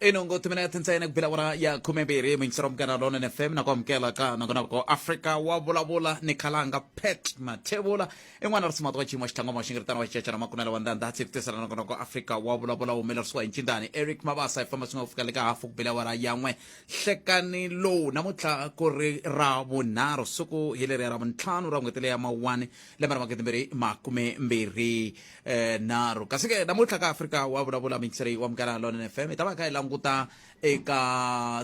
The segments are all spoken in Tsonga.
ino ngo timinete ntsena ku bela wona ya khume mbirhi muyingisera mugana lona fm na ku amukela ka nakona ko afrika wa vulavula ni khalanga pet mathevula i n'wana ri simata wa xiyimo xithangoma xi ngi ritana wa xicacana makunela wa ndandha tsi kutisela nakona ko afrika wa vulavula wu humelerisiwa hi ncindani eric mabasa i famba swi nga ku fika le ka hafu ku bela wara ya n'we hlekani lowu namuntlha ku ri ra vunharhu siku hi leriya ra vuntlhanu ra n'hweti leya mawuwani lembe ra magidi mbirhi makume mbirhi eh nharhu kasi ke namuntlha ka afrika wa vulavula mixrey wa mukala lon fm hi ta va kha hi languta eka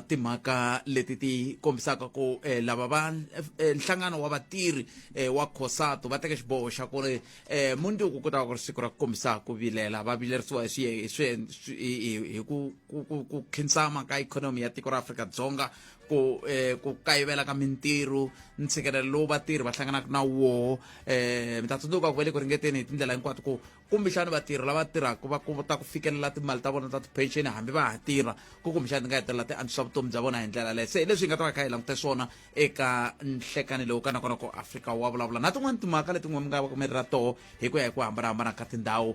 timhaka leti ti kombisaka ku eh, lava va eh, nhlangano wa vatirhi eh, wa cosato va teke xiboho xa ku ri eh, mundzuku ku ta va ku ri siku ra ku kombisa ku vilela va vilerisiwa hi swiye- hi swiye- swi- hi- hi- hi ku- ku ku- ku khinsama ka ikhonomi ya tiko ra afrika dzonga ku eh, ku kayivela ka mintirho ntshikelelo lowu vatirhi va hlanganaka na woho eh, mi ta tsundzuka ku va le ku ringeteni hi tindlela hinkwato ku kumbexani vatirhi lava tirhaka va kota ku fikelela timali ta vona ta ti-pension hambi va ha tirha ku kumbexani ti nga hetelela ti antswisa vutomi bya vona hi ndlela leyo se hi leswi hi nga ta va kha hi langute swona eka nhlekani lowu ka nakona ku afrika wa vulavula na tin'wani timhaka letin'we mi nga va ka mi ri ra toho hi ku ya hi ku hambanahambana ka tindhawu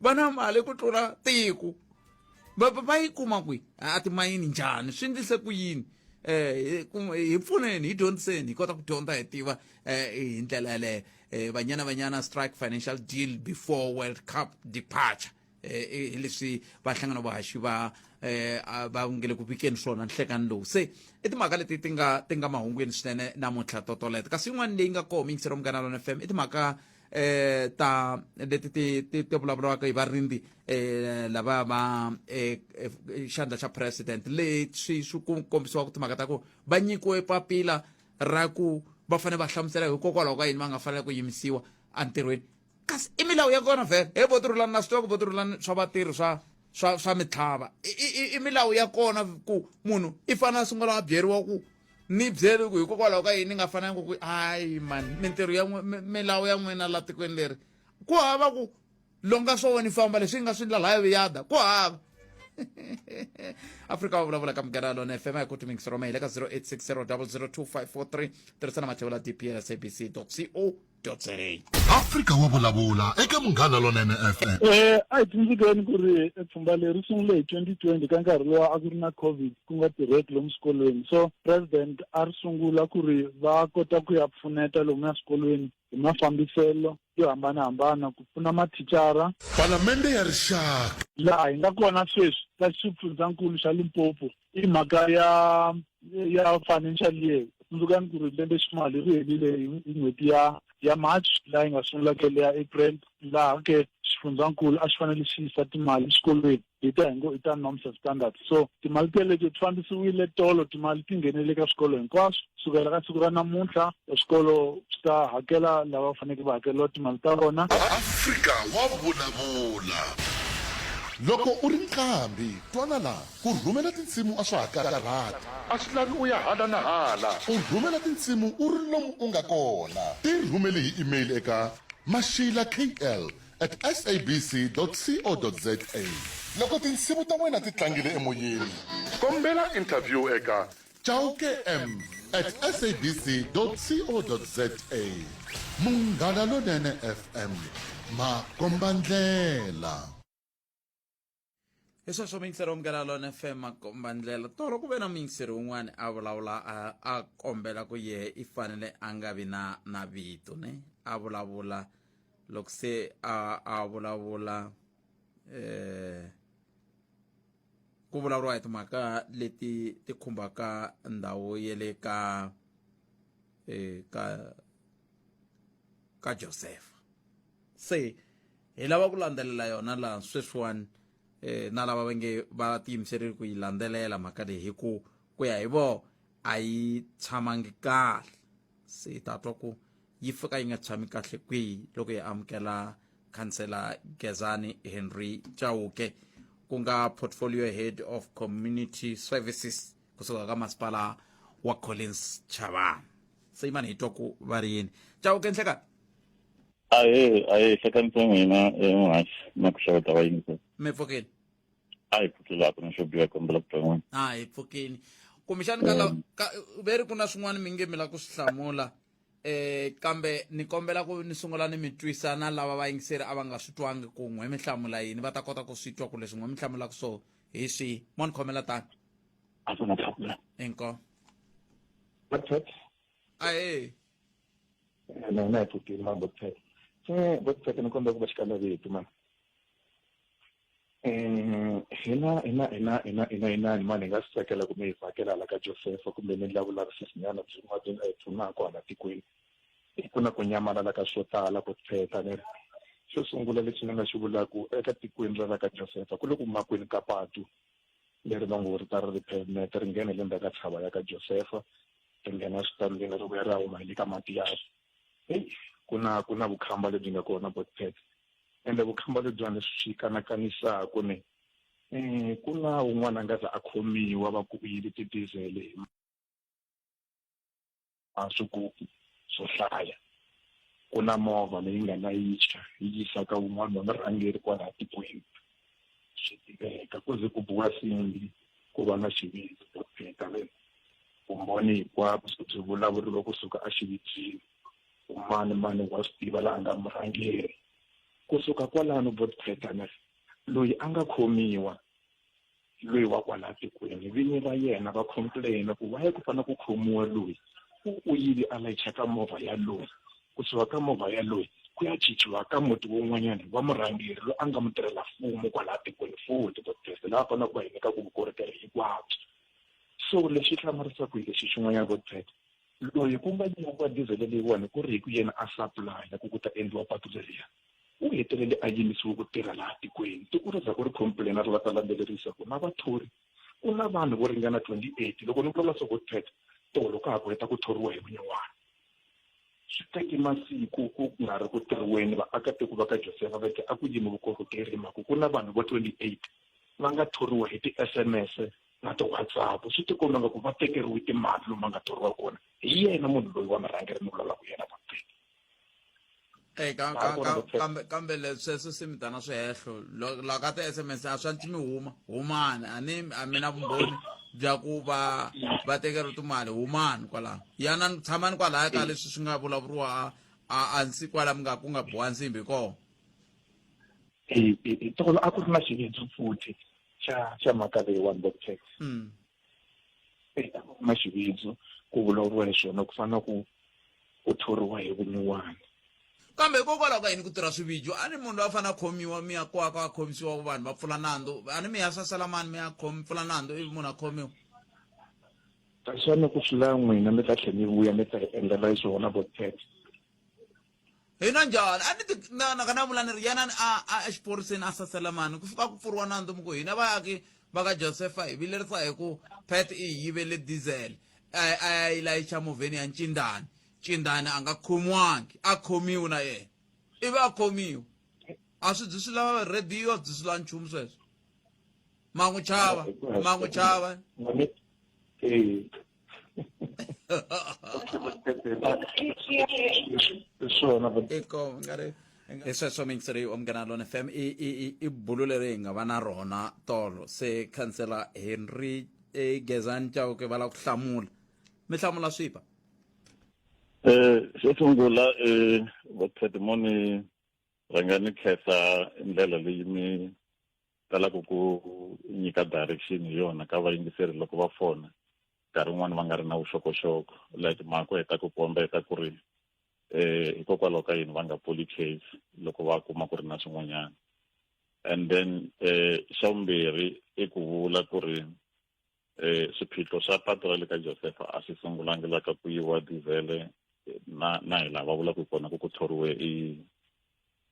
va na mali ku tlula tiko va va va yi kuma kwihi a timayini njhani swi endlise ku yini um hi pfuneni hi dyondziseni hi kota ku dyondza hi tiva um hi ndlela yaleyo um banyana banyana strike financial deal before world cup departure hi leswi va hlangana vahaxi va um va nge le ku vikeni swona nhlekani lowu se i timhaka leti ti nga ti nga mahungwini swinene namuntlha totoleto kasi yin'wana leyi nga koho mingisero munghana lona fm i timhaka eh ta leti ti ti ti vulavuriwaka hi varindzi eh lava va eh, eh xandla xa president leswi swi ku kombisiwa ku timhaka ta ku va nyikiwe papila ra ku va fanele va hlamusela hikokwalaho ka yini va nga fanele ku yimisiwa entirhweni kasi i milawu ya kona vhele he vo tirhulani na swi tiva ku vo tirhulani swa vatirhi swa swa swa mitlhava i milawu ya kona ku munhu i fanele a sungula a byeriwa ku ni byeli ku hikokwalaho ka yini ni nga fanelanga ku ayi mani mintirho ya milawu ya n'wina la tikweni leri ku hava ku longa swo ni famba leswi yi nga swi ndlala ya viyada ku hava afrika va vulavula ka mugera lona fm ya kuti mingisi roma hi le ka 0860 002 543 tirhisana mathevula dpl sabc co Totseng. Afrika wa vulavula eka Munghana Lonene FM. Eh, a hi tsundzukeni ku ri pfhumba leri sungule hi 2020 ka nkarhi lowa a ku ri na covid ku nga tirheki lomu swikolweni so president a ri sungula ku ri va kota ku ya pfuneta lomu ya swikolweni hi mafambiselo yo hambanahambana ku pfuna mathicara palamende ya rixaka laha hi nga kona sweswi ka xifundzankulu xa limpopo i mhaka ya ya financial year tsundzukani ku ri lembe ximali ri helile hi n'hweti ya ya march laha yi nga sungula ke leya april laha ke xifundzankulu a xi fanele xi yisa timali exikolweni hi ta hi ngo i ta norms and standards so timali teleto ti fambisiwile tolo timali ti nghenele ka swikolo hinkwaswo sukela ka siku ra namuntlha swikolo swi ta hakela lava va faneke va hakeriwa timali ta vona afrika wa vulavula loko u ri nqambi twana laha Ku rhumela tinsimu a swa ha karhati. A swi lavi u ya hala na hala. U rhumela tinsimu u ri lomu u nga kona. Ti rhumele hi email eka, mashilakl at sabc dot co dot za. Loko tinsimu ta wena ti tlangile emoyeni. Kombela interview eka, chaukem at sabc dot co dot za. Munghana Lonene FM, makombandlela. hi sweswo miyingiseri omukela lona fm makomba ndlela tolo ku ve na muyingiseri un'wana a vulavula a- a kombela ku yehe i fanele a nga vi na na vito ne a vulavula loko se a a vulavula eh ku vulavuriwa hi timhaka leti ti khumbaka ndhawu ya le ka eh, ka ka josefa se hi lava ku landzelela yona laha sweswiwani eh, na lava va nge va tiyimiserile ku yi landzelela mhaka leyi hi ku ku ya hi vona a yi tshamangi kahle se hi ta twa ku yi fika yi nga tshami kahle kwihi loko hi amukela khansela gezani henry chauke ku nga portfolio head of community services kusuka ka masipala wa collins chavana se yimani hi twa ku va ri yini chauke nhlekani ahe ahe hlekanisa n'wina emuhaxi na ku xeweta vayingisela mi pfukile a hi pfukilaka na xo biha kombela ku twa n'wina a hi pfukile kumbexani ka la- ka- ve ri ku na swin'wana mi nge mi la ku swi hlamula eh kambe ni kombela ku ni sungula ni mi twisa na lava vayingiseri a va nga swi twangi ku n'we mi hlamula yini va ta kota ku swi twa ku leswi n'we mi hlamulaka so hi swihi mo ni khomela tani a swi nga tlakula inko Mathata ahee na hina hi pfukile ma botsek se botsek ni kombela ku va xikanavito ma um hina hina hina hina hina hinani mani hi nga swi tsakela kumbe hi vhakela hala ka josefa kumbe ni endla vulavisisinyana byin'wana byi nga hi pfunaka hala tikweni hi ku na ku nyamalala ka swo tala ku tsheta ni ri xo sungula lexi ni nga xi vulaku eka tikweni ra la ka josefa ku le ku makwini ka patu leri va ngo ri ta ri ri pavement ri nghena hi le ndzhaku ka tshava ya ka josefa ri nghena switandini ri vuya ri ya huma hi le ka matiyasi heyi ku na ku na vukhamba lebyi nga kona botpet ende vukhamba lebyiwani swi kanakanisaka ni um ku na un'wana a nga za a khomiwa va ku u yive tidizele hi maswigubu swo hlaya ku na movha leyi nga layicha yi yisa ka wun'wana wa murhangeri kwalaha tikweni swi tiveka ku ze ku buwa simbi ku va na xivindzi profeta ve vumbhoni hinkwabyo se byi vulavuriwa kusuka exividzini umani mani wa swi tiva laha nga murhangeri kusuka kwalano profeta ne loyi a nga khomiwa loyi wa kwala tikweni vini ra yena va complain ku waye ku fanele ku khomiwa loyi u yile a layicha ka movha ya loyi kusuka ka movha ya loyi ku ya chichiwa ka muti wun'wanyana wa murhangeri loyi a nga mutirhela mfumo kwala tikweni futhi vodpresi laha faneleke va hi nyika ku vukorhokeri hinkwabyo so lexi hlamarisaka hi lexi xin'wanyana vodpresi loyi ku nga nyikiwa diesel leyiwani ku ri hi ku yena a supply-a ku ku ta endliwa patu leriya U hetelele a yimisiwe ku tirha laha tikweni. Tiko ra Zako ri khompulena ri la ta landzelerisa ku na vathori ku na vanhu vo ringana 28 loko ni vulavula Sokotpet tolo ka ha ku heta ku thoriwa hi vunyuwana. Swi teke masiku ku nga ri ku tirhiweni vaakatiko va ka Josefa va te a ku yimi vukorhokeri hi mhaka ku na vanhu vo 28 va nga thoriwa hi ti-SMS na ti-WhatsApp. Swi tikomba nga ku va tekeriwe timali lomu va nga thoriwa kona hi yena munhu loyi wa murhangeri ni vulavulaka hi yena Vhoteni. eyi kambe kambe leswi sweswo swi mi tana swihehlo loko ka ti-sms a swa mi huma humani a ni a mi na vumbhoni bya ku va va tekeriwa timali humani kwalaho yana tshamani kwalaya ka leswi swi nga vulavuriwa a a nsi kwala mi nga ku nga boha nsimbi kona tolo a ku ri na xividzo futhi xa xa mhaka leyiwani bob tax mm. eka kuma xividzo ku vulavuriwa hi swona ku fana na ku ku thoriwa hi vunyuwana kambe hikokwalaho ka yini ku tirha swivijo a ni munhu loyi a fanele a khomiwa mi ya kwako a khomisiwa vanhu va pfula nandzu a ni mi ya sasela mani mi ya pfula nandzu ivi munhu a khomiwa kasi va ni ku swi la n'wina mi ta tlhela mi vuya mi ta hi endlela swona vo tete hi na njhani a ni ti na na ka na vula ni ri yana a a exiphoriseni a sasela mani ku fika ku pfuriwa nandzu mi ku hina vayaki va ka josefa hi vilerisa hi ku pet i hi yivele diesel a a ya yi layicha movheni ya ncindani ncindani a nga khomiwangi a khomiwi na yena ivi a khomiwa a swi byi swi lava rhediyo a byi swi lava nchumu sweswo ma n'wi chava ma n'wi chava i sweswo mingiseri wa munghana lona fm i bulu leri hi nga va na rona tolo se khansela henry e gezani chauke va lava ku hlamula mi hlamula swipa um xo sungula um vakhedimoni rhangani khensa ndlela leyi mi talaka ku nyika direction hi yona ka vayingiseri loko va fona nkarhi wun'wani va nga ri na vuxokoxoko like mhako hi ta ku kombeta ku ri eh hikokwalaho ka yini va nga pfuli case loko va kuma ku ri na swin'wanyana and then eh xa vumbirhi i ku vula ku ri Eh, xiphiqo xa patu ra le ka josefa a xi sungulangi la ka ku yiwa divhele na na hi laha va vulaka kona ku ku thoriwe i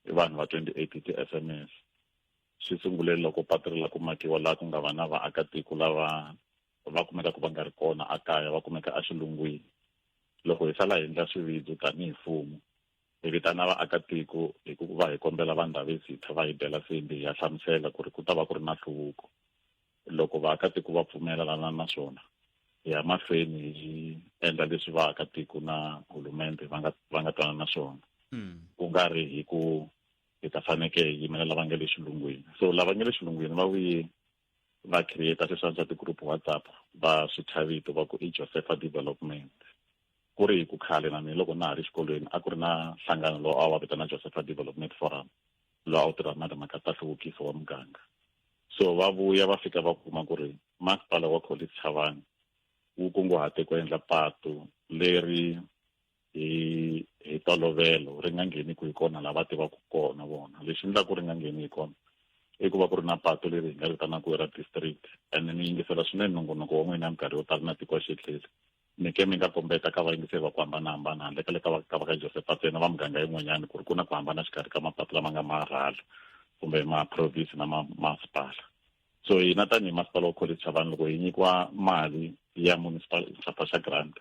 i vanhu va 28 ti-sms xi sungule loko patu ri la ku makiwa laha ku nga va na vaakatiko lava va kumeka ku va nga ri kona a kaya va kumeka exilungwini loko hi sala hi endla swividzo tanihi mfumo hi vitana vaakatiko hi ku va hi kombela va ndhavezitha va hi bela sembi hi ya hlamusela ku ri ku ta va ku ri na nhluvuko loko vaakatiko va pfumelelana na swona hi ya mahlweni hi endla leswi vaakatiko na hulumende va nga va nga twana na swona hmm. ku nga ri hi ku hi ta faneke hi yimela lava nga le xilungwini so lava nga le xilungwini va vuye va creator sweswi a swa ti-group whatsapp va swi thya vito va ku i josepha development ku ri hi ku khale na mina loko na ha ri xikolweni a ku ri na nhlangano lowu a wa vitana josepha development forum lowu a wu tirha na timhaka ta hluvukiso wa muganga so va vuya va fika va kuma ku ri masipala wa college chavani wu kunguhate ku endla patu leri hi hi tolovelo ri nga ngheni ku hi kona la va tivaka kona vona lexi endlaku ri nga ngheni hi kona i ku va ku ri na patu leri hi nga ri vitanaka ra district and ni yingisela swinene nongonoko wa n'wina minkarhi yo tala na tiko xitlheli mi ke mi nga kombeta ka vayingiseri va ku hambanahambana handle ka le ka va ka va ka josefa tsena va muganga yin'wanyana ku ri ku na ku hambana xikarhi ka mapatu lama nga marhala kumbe maprovince na masipala so hina tanihi masipala wa college chavani loko hi nyikiwa mali ya municipal xapa xa grant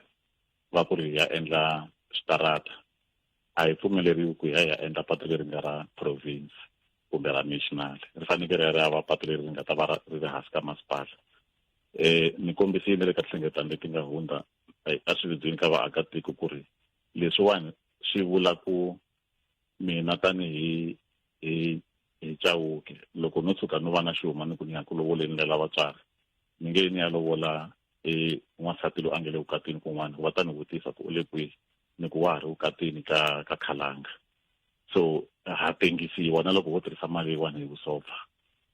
va ku ri hi ya endla switarata a hi pfumeleriwi ku hi ya hi ya endla patu leri nga ra province kumbe ra national ri fanekele ri ya ri ya va patu leri ri nga ta va ri ri hansi ka masipala um ni kombisile le ka tinhlengeletano leti nga hundza a swi vidzini ka vaakatiko ku ri leswiwani swi vula ku mina tanihi hi hi chawuke loko no tshuka no va na xihuma ni ku ni ya ku lovoleni lela vatswari ni nge ni ya lovola i n'wansati loyi a nga le vukatini kun'wana va ta ni vutisa ku u le kwihi ni ku wa ha ri vukatini ka ka khalanga so ha tengisiwa na loko ho tirhisa mali yiwani hi vusopfa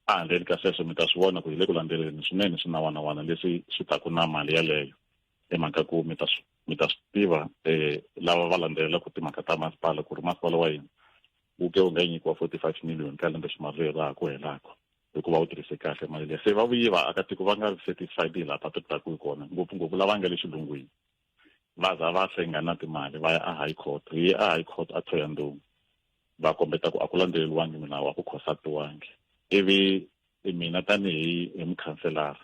a handleni ka sweswo mi ta swi vona ku hi le ku landzeleleni swinene swinawanawana leswi swi taku na mali yaleyo hi mhaka ku mi ta swi mi ta swi tiva um lava va landzelelaku timhaka ta masipala ku ri masipala wa yena wu ke wu nga nyikiwa forty five million ka lembe ximali leri ra ha ku helaka hikuva wu tirhise kahle mali leyi se va vuyi vaakatiko va nga ri satisfied hi laha va tirhisaka hi kona ngopfungopfu lava nga le xilungwini va za va hlenga na timali va ya a high court hi ye a high court a thoya ndhungu va kombeta ku a ku landzeleriwangi milawu a ku khosatiwangi ivi mina tanihi hi mukhanselara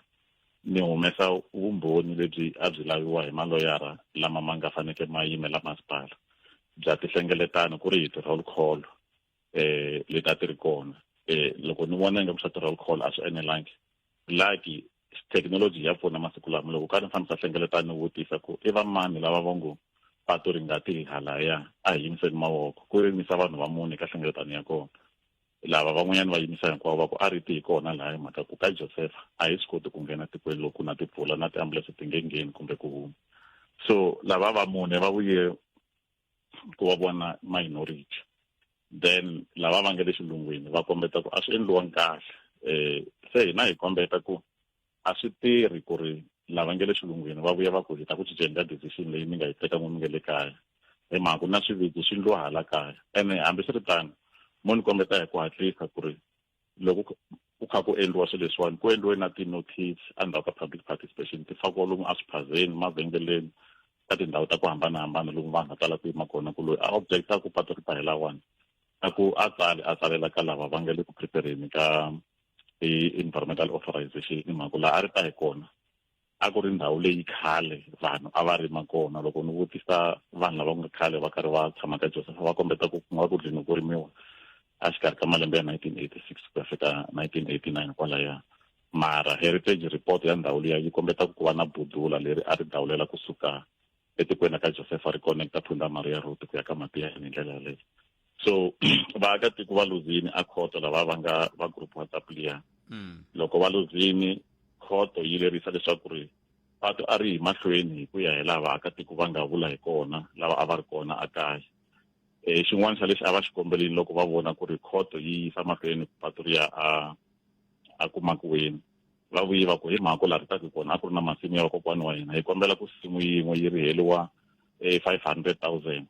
ni humesa vumbhoni lebyi a byi laviwa hi maloyara lama ma nga faneke ma yimela masipala bya tihlengeletano ku ri hi ti-roll call eh leti a ti ri kona eh loko ni vona ingaku swa ti-roll call a swi enelangi lucky thekinoloji ya pfuna masiku lama loko ka ni fane sa hlengeleta ni vutisa ku i vamani lava va ngo patu ri nga ti halaya a hi yimiseni mavoko ku yimisa vanhu va mune ka hlengeletano ya kona lava van'wanyana va yimisa hinkwavo va ku a ri ti hi kona laha hi mhaka ku ka josefa a hi swi koti ku nghena tikweni loku na timpfula na tiambulense ti nge ngheni kumbe ku huma so lava va mune va vuye ku va vona minority then lava va nga le xilungwini va kombeta ku a swi endliwangi kahle um se hina hi kombeta ku a swi tirhi ku ri lava nge le xilungwini va vuya va ku hi ta ku cinceni ka decision leyi mi nga yi teka n'wi mi nge le kaya hi mhaka ku na swiviki swi ndliwa hala kaya ene hambiswiritano mo ni kombeta hi ku hatlisa ku ri loko ku kha ku endliwa swilo leswiwani ku endliwe na ti-notice endzhaku ka public participation ti fakiwa lomu eswiphazeni mavhengeleni ka tindhawu ta ku hambanahambana lomu vanhu va tala ku yima kona ku loyi a objecta ku patu ri ta hi lawani na ku a tsali a tsalela ka lava va nga le ku prepareni ka i-environmental authorization hi mhaka laha a ri ta hi kona a ku ri ndhawu leyi khale vanhu a va rima kona loko ni vutisa vanhu lava nga khale va karhi va tshama ka joseph va kombeta ku ku nga ku dlini ku rimiwa a xikarhi ka malembe ya 1986 ku ya fika 1989 kwalaya mara heritage report ya ndhawu liya yi kombeta ku ku va na budula leri a ri dawulela kusuka etikweni ra ka josefa ri connecta phunda maria road ku ya ka matiyani hi ndlela yaleyo so vaakatiko va luzini a khoto lava va nga va group whatsapp liya mm. loko va luzini khoto yi lerisa leswaku ri patu a ri hi mahlweni hi ku ya hi laha vaakatiko va nga vula hi kona lava a va ri kona a kaya um xin'wana xa lexi a va xi kombelini loko va vona ku ri khoto yi yisa mahlweni patu riya a a kumakiweni va vuye va ku hi mhako laha ri taku kona a ku ri na masimu ya vakokwani wa hina hi kombela ku simu yin'we yi ri heliwa eh, five hundred thousand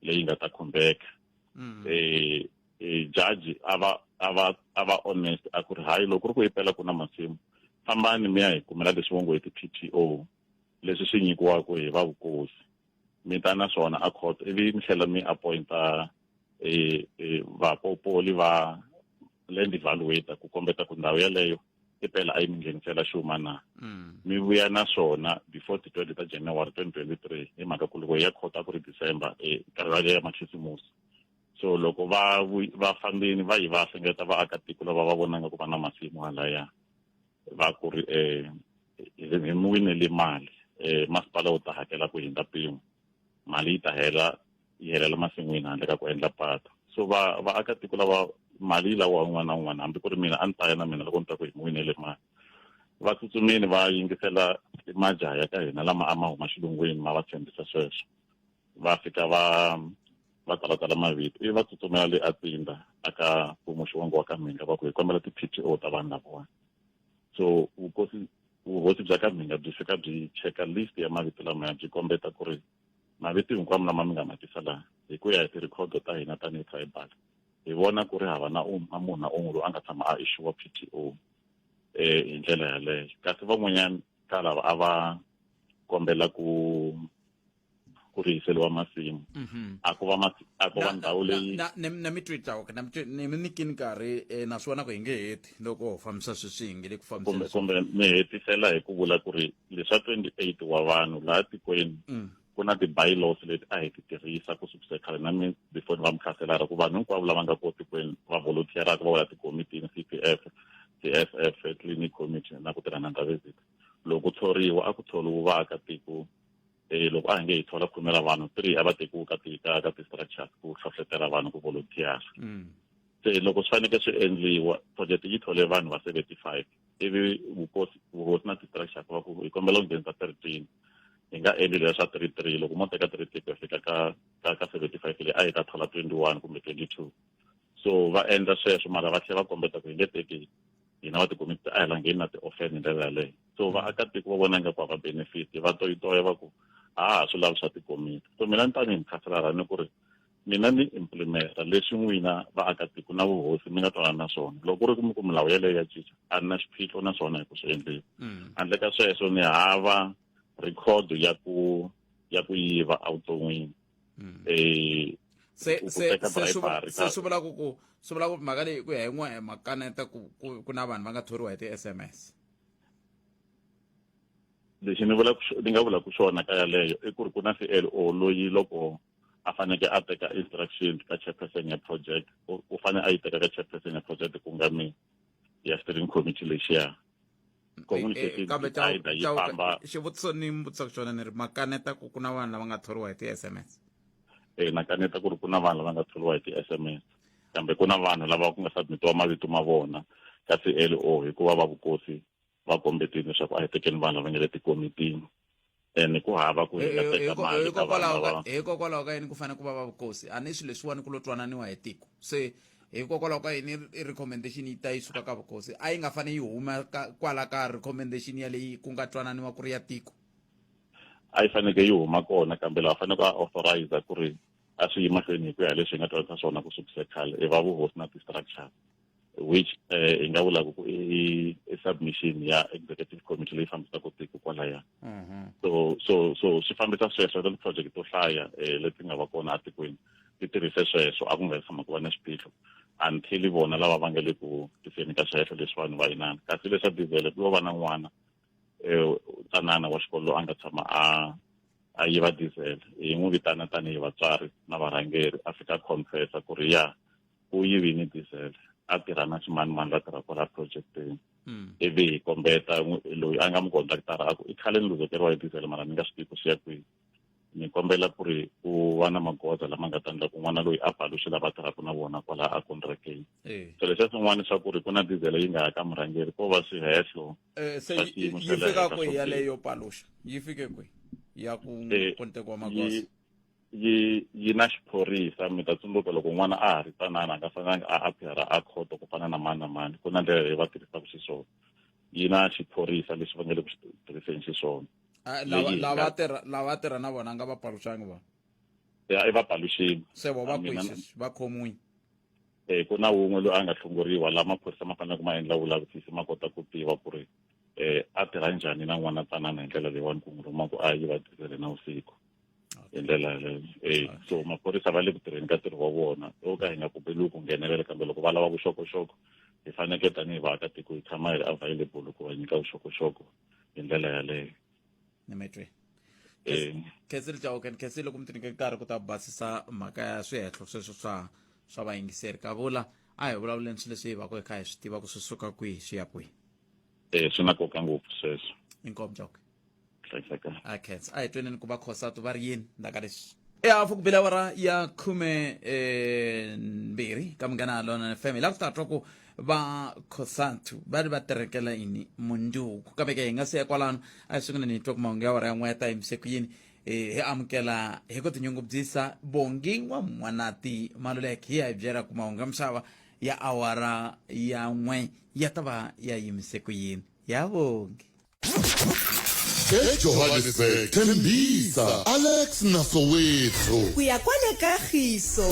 leyi nga ta khumbeka mm. eh, eh, jaji a va a va a va honest a ku ri hayi loko ri ku yi pela ku na masimu fambani mi ya hi kumela leswi vo ngo hi ti-p t o leswi swi nyikiwaka hi va vukosi mi ta na swona a court ivi mi tlhela mi appointa e, e, vapopoli va land evaluator ku kombeta ku ndhawu yeleyo i pela a yi mi nghenisela xuma na mm. mi vuya na swona before ti twenty ta january twenty twenty three hi mhaka ku loko ya khota ku ri december e, karivale ya makhisimusi so loko va va fambini va yi va hlengeta vaakatiko lava va vonanga ku va na masimu halaya va ku ri um hi mi winele mali um masipala wu ta hakela ku hindza mpimo mali yi ta hela yi helela masin'wini handle ka ku endla patu so va vaakatiko lava mali yi lawa un'wana na un'wana hambi ku ri mina a ni ta ya na mina loko ni ta ku hi mi winele mali va tsutsumile va yingisela majaha ya ka hina lama a ma huma xilungwini ma va tshembisa sweswo va fika va va talatala mavito ivi va tsutsumela le atsinda aka kumuxi wangu wa ka mhinga va ku hi kombela ti-p t o ta vanhu lavawani so vukosi vuhosi bya ka mhinga byi fika byi cheka list ya mavito lamaya byi kombeta ku ri mavito hinkwamo lama mi nga ma tisa laha hi ku ya hi ti-record ta hina tanihi tribal hi vona ku ri hava na um a munhu na un'we loyi a nga tshama a ixiwa p t o um eh, hi ndlela yaleyo kasi van'wanyana ka lava a va kombela ku ku rihiseliwa masimu mhm. a ku va a ku va ndhawu leyi na mi twita okay na mi mi nikini nkarhi eh, naswona ku hi nge heti loko ho fambisa sweswi hi nge le ku fambisa kumbe mi hetisela hi ku vula ku ri leswa 28 wa vanhu laha tikweni mm. ku na ti-bylaws leti a hi ti tirhisa ku sukisa khale na mi before ni va mi tlhaselara ku vanhu hinkwavo lava nga ko tikweni va volunteeraka va wela tikomitini c p f c f f clinic committee na ku tirha na ndhaveziti loko ku thoriwa a ku thoriwi vaakatiko eh, loko a hi nge hi thola khume ra vanhu three a va tekiwi ka ti ka ka ti-structures ku hlohlotela vanhu ku volunteers mm. se loko swi faneke swi endliwa project yi thole vanhu va seventy five ivi vukosi vuhosi na ti-structures va ku hi kombela ku nghenisa thirteen hi nga endli leya swa three three loko mo teka three three ku ya fika ka ka ka seventy five leyi a yi ta thola twenty one kumbe twenty two so va endla sweswo mara va tlhela va kombeta ku hi nge teki hina va tikumi a hi langeni na ti-offend hi ndlela yaleyo so vaakatiko va vona ingaku a va benefit va toyitoya va ku a ha swi lavi swa tikomiti so mina ni tanihi mukhanselara ni ku ri mina ni implimeta leswi n'wina vaakatiko na vuhosi mi nga twanana na swona loko ku ri ku mi ku milawu yeleyo ya cinca a ni na xiphiqo na swona hi ku swi endleni mm. handle ka sweswo ni hava record ya ku ya ku yiva evuton'wini mm. eh, se se se swi vula se swi vula ku ku swi vula ku mhaka leyi ku ya hi n'we makaneta ku ku na vanhu va nga thoriwa hi ti-sms lexi ni vula ni nga vula ku swona ka yaleyo i ku ri ku na clo loyi loko a faneke a teka instruction ka chairperson ya project u fanele a yi teka ka chairperson ya project ku nga mi ya steering committee lexiya kambe xivutiso ni mi vutisaka xona ni ri makaneta ku ku na vanhu lava nga thoriwa hi ti-s m s e makaneta ku ri ku na vanhu lava nga thoriwa hi ti-s m s kambe ku na vanhu lava ku nga submitiwa mavito ma vona ka c l o hikuva va vukosi va kombetile leswaku a hi tekeni vanhu lava nga le tikomitini and ku hava ku hi nga teka mali ka vana hikokwalaho ka yini ku fanele ku va va vukosi a ni swilo leswiwani ku lo twananiwa hi tiko se hikokwalaho ka yini recommendation yi ta yi suka ka vukosi a yi nga fanele yi huma kwala ka recommendation ya leyi ku nga twananiwa ku ri ya tiko a yi faneke yi huma kona kambe laha faneleke a authorize ku ri a swi yi mahlweni hi ku ya leswi hi nga twanisa swona ku sukise khale i va vuhosi na ti-structure which eh, hi nga vulaka ku i i submission ya executive committee leyi fambisaka tiko kwalaya Mhm. so so so swi fambisa sweswo ri project to hlaya eh, leti nga va kona atikweni ti tirhise sweswo a ku nga tshama ku va na xiphiqo until vona lava va nga le ku tiseni ka sweswo leswi vanhu va inana kasi leswa diesel ku lo va na n'wana eh, tanana wa xikolo loyi a nga tshama a a yiva diesel hi n'wi vitana tanihi vatswari na varhangeri a fika confessa ku ri ya u yi vini diesel a tirha na ximanimani la tirha kwala projecteni hmm. ivi hi kombeta loyi a nga mi kondaktara a ku i khale ni luzekeriwa hi diesel mara ni nga swi tivi ku swi ya kwihi ni kombela ku ri u va na magoza lama nga ta endla ku n'wana loyi a paluxe lava tirhaka na vona kwala a contracteni eh. so leswiya swin'wana swa ku ri ku na diesel yi nga ya ka murhangeri ko va swihehlo eh, se yi fika kwihi yaleyo paluxa yi fike kwihi ya ku eh, kontekiwa magoza yi yi na xiphorisa mi ta tsundzuka loko n'wana a ha ri tsanana a nga fanelanga a appeara a khoto ku fana na mani na mani ku na ndlela leyi va tirhisaka xiswona yi na xiphorisa lexi va nga le ku xi tirhiseni xiswona ah, lava tirha lava tirha na vona nga va paluxangi vona ya i va paluxini se vo va kwisisi va khomiwini um eh, ku na wun'we loyi a nga hlongoriwa laha maphorisa ma faneleke ma endla vulavisisi ma kota ku tiva ku ri um a tirha njhani na n'wana tsanana hi ndlela leyiwani ku n'wi rhuma ku a yi va tirhisele na vusiku hi ndlela yaleyo e so maphorisa va le ku tirheni ka ntirho wa vona o ka hi nga pfumeleli ku nghenelela kambe loko va lava vuxokoxoko hi fanekele tanihi vaakatiko hi tshama hi ri available ku va nyika vuxokoxoko hi ndlela yaleyo ni mi twe khensile jawukeni khensile loko mi ti nyike nkarhi ku ta basisa mhaka ya swihehlo sweswo swa swa vayingiseri ka vula a hi vulavuleni swilo leswi hi vaka hi kha hi swi tiva ku swi suka kwihi swi ya kwihi e swi na nkoka ngopfu sweswo inkomu jawuke okay a hi tweneni ku va khosatu va ri yini ndaka leswi ya fukubila awara ya khume eh, mbirhi ka munghana lona fm hi lava ku ta twa ku va khosatu va ri va terekela yini munduku kambe ke hi nga siya kwalano a hi sunguleni hi twa ku mahungu ya awara ya n'we ya ta yimise ku yini eh, hi amukela hi ku tinyungubyisa bongi wa mwanati maluleke hi ya hi byela ku mahungu ya misava ya awara ya n'we ya ta va ya yimise ku yini ya bongi ejohannesburg thembisa alex na soweto ku ya kwale kagiso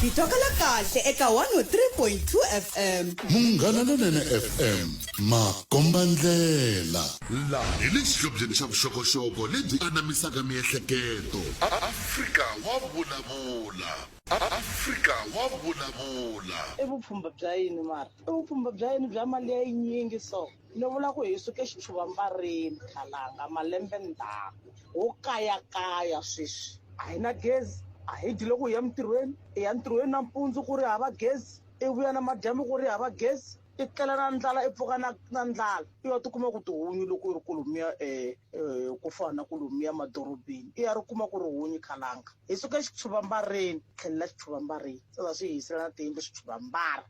hi tokala kahle eka 103.2 fm munghana lonene fm makombandlela laha hi le xihlobyeni xa vuxokoxoko lebyi anamisaka miehleketo afrika wa vulavula afrika wa vulavula i vupfhumba bya yini mara i vupfhumba bya yini bya mali ya yinyingi so Ni vula ku hi suke xichuvambarini khalanga malembe ndzhaku ho kayakaya sweswi a hi na gezi a hi dyi loko hi ya emintirhweni i ya ntirhweni nampundzu ku ri hava gezi i vuya na madyambu ku ri hava gezi i tlela na ndlala i pfuka na na ndlala i wa tikuma ku tihunyi loko i ri ku lomuya um ku fana na ku lomuya madorobeni i ya ri kuma ku ri hunyi khalanga hi suke xichuvambarini tlhelela xichuvambarini se za swi hi yisela na tiyindlu swichuvambara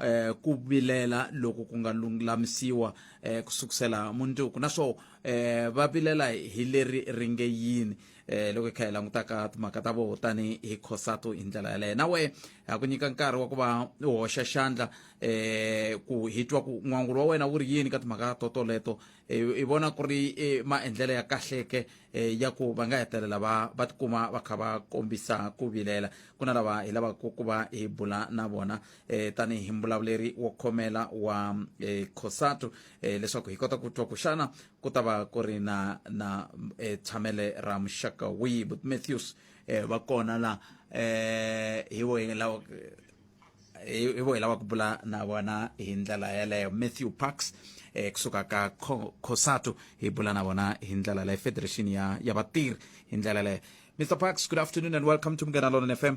eh, ku vilela loko ku nga lulamisiwa eh, ku sukusela mundzuku naswo eh, va vilela hi leri ri nge yini eh, loko hi kha hi langutaka timhaka ta voho tani hi khosato hi ndlela yaleyo na wehe ha ku nyika nkarhi wa ku va u hoxa xandla eh, ku hi twa ku n'wangulo wa wena wu ri yini ka timhaka totoleto eh, i vona ku ri eh, maendlelo ya kahleke eh, ya ku va nga hetelela va va tikuma va kha va kombisa ku vilela ku na lava hi lavaka ku va hi bula na vona eh, tanihi mbulavuleri wo khomela wa eh, cosatu eh, leswaku hi kota ku twa ku xana ku ta va ku ri na na eh, tshamele ra muxaka wihi but matthews eh, va kona la eh, hi vohi lawa hi hi vohi lava ku bula na vona hi ndlela yeleyo matthew parks eh, kusuka ka Co- cosatu hi bula na vona hi ndlela leyo federation ya ya vatirhi hi ndlela leyo mr parks good afternoon and welcome to mngena lona fm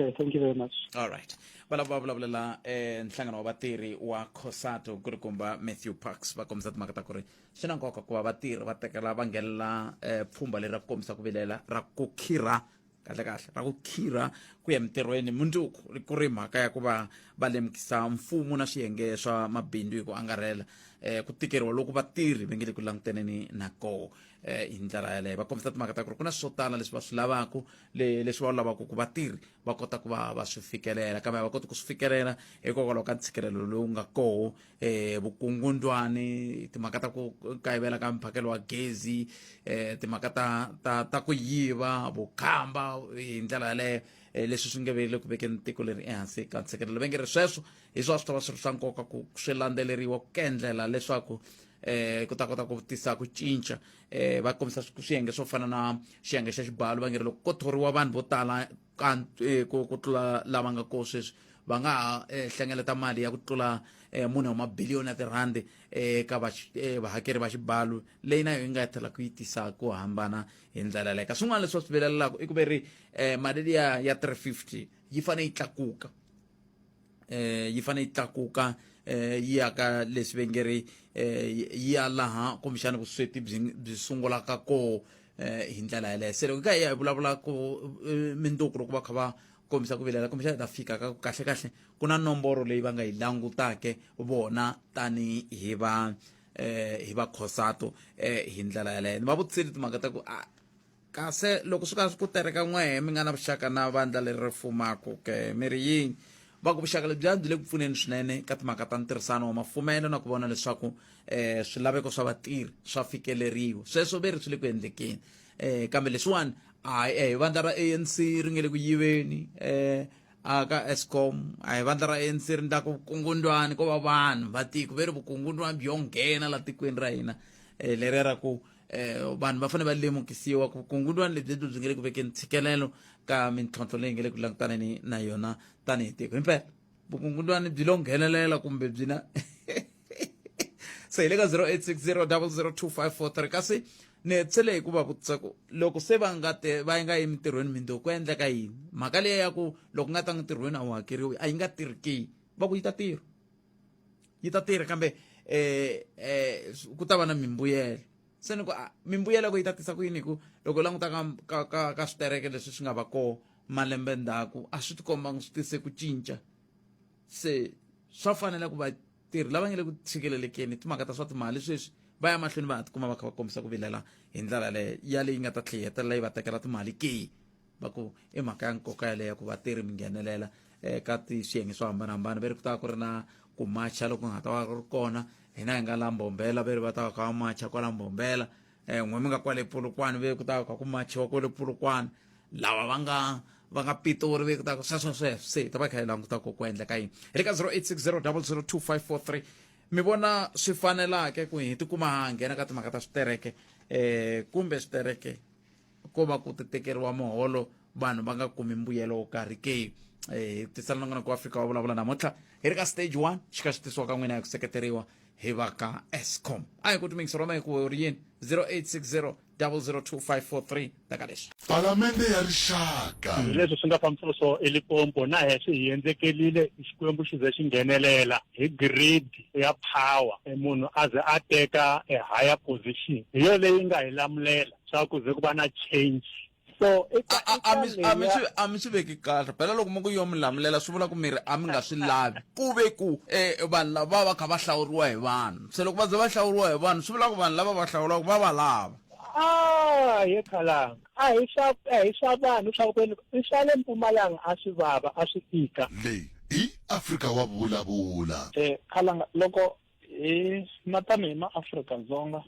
Okay, thank you very much. All right. Valava va vulavulela eh nhlangano wa vatirhi wa Cosato ku ri kumba Matthew Parks va kombisa timhaka ta ku ri swi na nkoka ku va vatirhi va tekela va nghenelela eh pfhumba leri ra ku kombisa ku vilela ra ku khirha kahle kahle ra ku khirha ku ya mintirhweni mundzuku ku ri mhaka ya ku va va lemukisa mfumo na swiyenge swa mabindzu hi ku angarhela eh ku tikeriwa loko vatirhi va nge le ku langutaneni na koho eh hi ndlela yaleyo va kombisa timhaka ta ku ri ku na swo tala leswi va swi lavaka leswi va lavaka ku vatirhi va kota ku va va swi fikelela kambe va koti ku swi fikelela hikokwalaho ka ntshikelelo lowu nga koho um eh, vukungundwani timhaka ta ku kayivela ka mphakelo wa gezi um timhaka ta ta ta ku yiva vukhamba hi ndlela yaleyo Eh, leswi swi nge vele ku vekeni tiko leri ehansi ka ntshikelelo va nge ri sweswo hi swa swi ta va swi ri swa nkoka ku swi landzeleriwa ku kendlela leswaku um ku ta kota ku tisa ku cinca eh va kombisa swiyenge swo fana na xiyenge xa xibalo va nge ri loko ko thoriwa vanhu vo tala eh, ku tlula lava nga ko sweswi va nga ha eh, hlengeleta mali ya ku tlula eh, mune wa mabiliyoni ya tirhandi eka vahakeri va xibalo leyi na yo yi nga tlhela ku yi tisa ku hambana hi ndlela leka swin'wana leswi va swi vilelelaka i ku ve ri mali liya ya 350 yi fanele yi tlakuka eh yi fane yi tlakuka eh yi ya ka leswi ve nge ri eh yi ya laha kumbexana vusweti byi byi sungulaka koho eh hi ndlela yeleyo se loko hi ka hi ya hi vulavula ku eh, mindzuku loko va kha va kombisa ku vilela kumbexana hi ta fika ka ku kahle kahle ku na nomboro leyi va nga yi langutake vona tani hi va eh hi va khosato eh hi ndlela yeleyo ni va vutiseli timhaka ta ku ah, kasi loko swi ka swi ku tereka n'wehe mi nga na vuxaka na vandla leri ri fumaka ke mi ri yini va ku vuxaka lebyi byi le ku pfuneni swinene ka timhaka ta ntirhisano wa mafumelo na ku vona leswaku um swilaveko swa vatirhi swa fikeleriwa sweswo ve ri swi le ku endlekeni um kambe leswiwani a hi vandla ra a n c ri nge le ku yiveni um aka escom a hi vandla ra ANC ri ndla ku vukungundwani ko va vanhu va tiko ve ri vukungundwani byo nghena la tikweni ra hina um eh, leri ra ku um vanhu va fanele va lemukisiwa ku vukungundwani lebyi byi nge le ku vekeni ntshikelelo ka mintlhontlho leyi nge le ku langutaneni na yona tanihi tiko himpela vukungundwani byi lo nghenelela kumbe byi na se hi le ka 0860 002543 kasi ni hetsele hi ku va vutisa ku loko se va nga te va yi nga yi mintirhweni mindho ku endleka yini mhaka leyi ya ku loko nga ta ntirhweni a wu hakeriwi a yi nga tirhi ke va ku yi ta tirha yi ta tirha kambe eh eh ku ta va na mimbuyelo se ni ku ah, mimbuyelo ku yi ta tisa ku yini hi ku loko languta ka ka ka, ka switereke leswi swi nga va kona malembe ndzhaku a swi tikombanga swi tise ku cinca se swa fanela ku vatirhi lava nga le ku tshikelelekeni timhaka ta swa timali sweswi va ya mahlweni va ha tikuma va kha va kombisa ku vilela hi ndlela leyo yaleyi nga ta tlhe yi hetelela yi va tekela timali ke va ku i mhaka ya nkoka yaleyo ku vatirhi mi nghenelela eka eh, tiswiyenge swo hambanahambana va ri ku ta ku ri na ku macha loko nga ta va ri kona hina hi nga la mbombela va ri va ta va kha va macha kwala mbombela um eh, n'we mi nga kwale pulukwana ve ku ta va kha ku machiwa kwale pulukwana lava va nga va nga pitori ve ku ta ku sweswo sweswo se hi ta va kha hi languta ku ku endleka yini hi le ka 0860 002 mi vona swi fanelake ku hi tikuma ha nghena ka timhaka ta switereke um kumbe switereke ko va ku ti tekeriwa muholo vanhu va nga kumi mbuyelo wo karhi ke eh tisala na n'wana ku afrika wa vulavula namuntlha hi ri ka stage one xi ka xi tisiwa ka n'wina hi ku seketeriwa hi va ka escom a hi ku timingisa rona hi ku ri yini 0860 002543 ta ka leswi palamende ya rixaka leswi swi nga fambiselo swo elipompo na heswi hi endzekelile xikwembu xi ze xi nghenelela hi grade ya power e munhu a ze a teka e higher position hi yo leyi nga hi lamulela swa ku ze ku va na change so a mi swi a mi swi veki kahle phela loko mi ku yo mi lamulela swi vula ku miri a mi nga swi lavi ku ve ku um vanhu lava va kha va hlawuriwa hi vanhu se loko va ze va hlawuriwa hi vanhu swi vula ku vanhu lava va hlawulaka va va lava a hi khalanga a hi swa a hi swa vanhu swa kwenu i swa le mpumalanga a swi vava a swi tika leyi i afrika wa vulavula um khalanga loko hi na tanihi maafrika-dzonga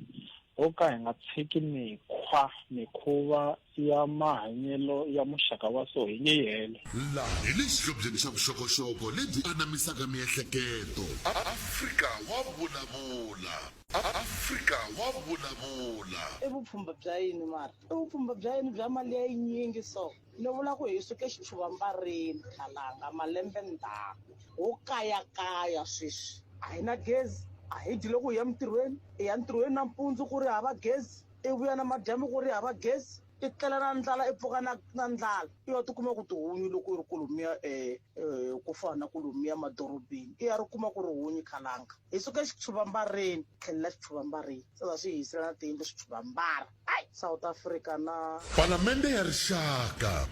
ho ka hi nga tshiki mikhwa mikhuva ya mahanyelo ya muxaka wa so hi nge yi helo laha hi le xihlobyeni xa vuxokoxoko lebyi anamisaka miehleketo afrika wa vulavula afrika wa vulavula i vupfhumba bya yini mara i vupfhumba bya yini bya mali ya yinyingi so Ni vula ku hi suke xitshuvambareni Khalanga malembe ndzhaku ho kayakaya sweswi a hi na gezi a hi dyi loko hi ya mintirhweni i ya ntirhweni nampundzu ku ri hava gezi i vuya na madyambu ku ri hava gezi i tlela na ndlala i pfuka na na ndlala i ya tikuma ku tihunyi loko i ri kolomiya um eh, eh, ku fana na kolomiya madorobeni i ya ri kuma ku ri hunyi Khalanga hi suke xitshuvambareni tlhelela xitshuvambareni sasa swi hi hisela na tiyindlu switshuvambara south africa na palamende ya rixaka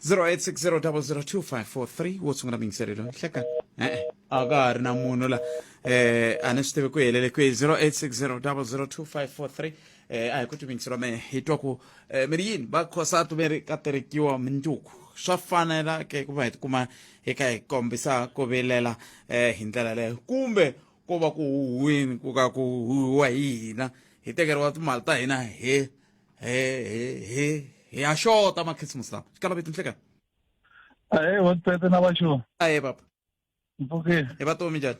0860002543 wo sungula miyingiselelo nhlekani e-e a ka ha ri na munhu la eh a ni swi tivi ku helele kwihi 0860002543 eh a hi ku timingiselo me hi twa ku eh, mi ri yini va khosatu mi ri ka terekiwa minduku swa fanela ke ku va hi tikuma hi kha hi kombisa ku vilela eh hi ndlela leyo kumbe ko va ku huhwini ku ka ku huhiwa hi hina hi tekeriwa timali ta hina he he he he hi ya xota makhisimusi lawa xi kalaveti nhleka ahe wa tsetse na vaxo ahe papa mpfukile hi va tomi njhani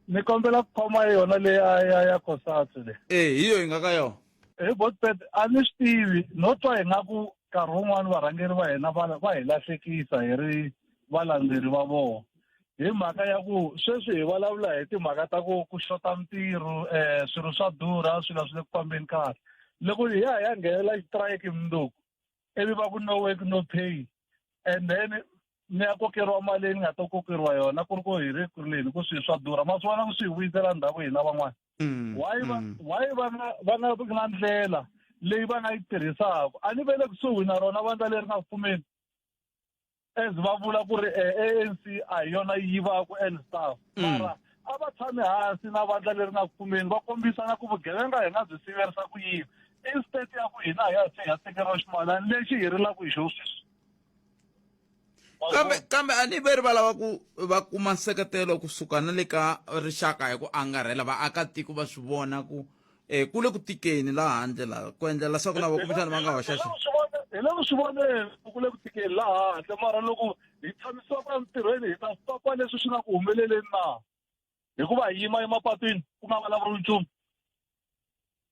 ni kombela ku khoma yona leyi a ya ya kosatsi le e hi yo hi nga ka yona hi botpet a ni swi tivi no twa hi nga ku nkarhi wun'wani varhangeri va hina va va hi lahlekisa hi ri valandzeri va vona hi mhaka ya ku sweswi hi vulavula hi timhaka ta ku ku xota mintirho um swilo swa durha swilo swi le ku fambeni kahle loko hi ya hi ya nghenela xitrayiki mundzuku ivi va ku no work no pay and then ni ya kokeriwa mali leyi ni nga ta kokeriwa yona ku ri ku hi ri ku ri leni ku swilo swa durha ma swi vona ku swi hi vuyisela ndhaku hina van'wana mm, why va mm. why va nga va nga ri na ndlela leyi va nga yi tirhisaka a ni ve le kusuhi na rona vandla leri nga pfumeli as va vula ku ri eh, anc a hi yona yi yivaku and stuff mm. mara a va tshami hansi na vandla leri nga kumeni va kombisana ku vugevenga hi nga byi siverisa ku yini instead ya ku hina hi ya se hi ya tekeriwa ximalani lexi hi rilaka hi xo sweswi kambe kambe a ni ve ri va lava ku va kuma nseketelo kusuka na le ka rixaka hi ku angarhela vaakatiko va swi vona ku e ku le ku tikeni laha handle la ku endlela leswaku na vakumbexana va nga hoxa xi hi le ku swi voneni ku le ku tikeni laha handle mara loko hi tshamisiwa ka ntirhweni hi ta papa leswi swi nga ku humeleleni na hikuva hi yima emapatwini ku nga vulavuri nchumu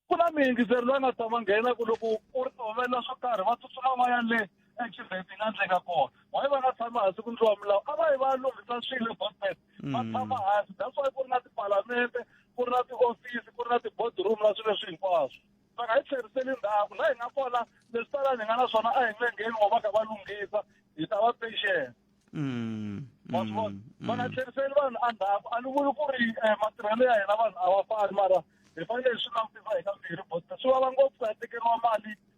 ku na miyingiseri loyi nga ta va nghena ku loko u ri humelela swo karhi va tsutsuma va ya le exirheti nga endleka kona waye va nga tshami hansi ku ndliwa milawu a va yi va lunghisa swilo bosbet va mm. tshama hansi that's why ku ri na tipalamente ku ri na tiofisi ku ri na ti-boardroom na swilo leswi hinkwaswo va nga hi tlheriseli ndhaku laha hi nga kona leswi talani hi nga na swona a hi nge ngheni wa va ka va lunghisa hi ta va patient mm, wa swi vona mm, va nga tlheriseli vanhu endzhaku a ni vuli ku ri eh, matirhelo ya hina vanhu a va fani mara hi fanele hi swi langutisa hi ka mbirhi but swi vava ngopfu ku ya tekeriwa mali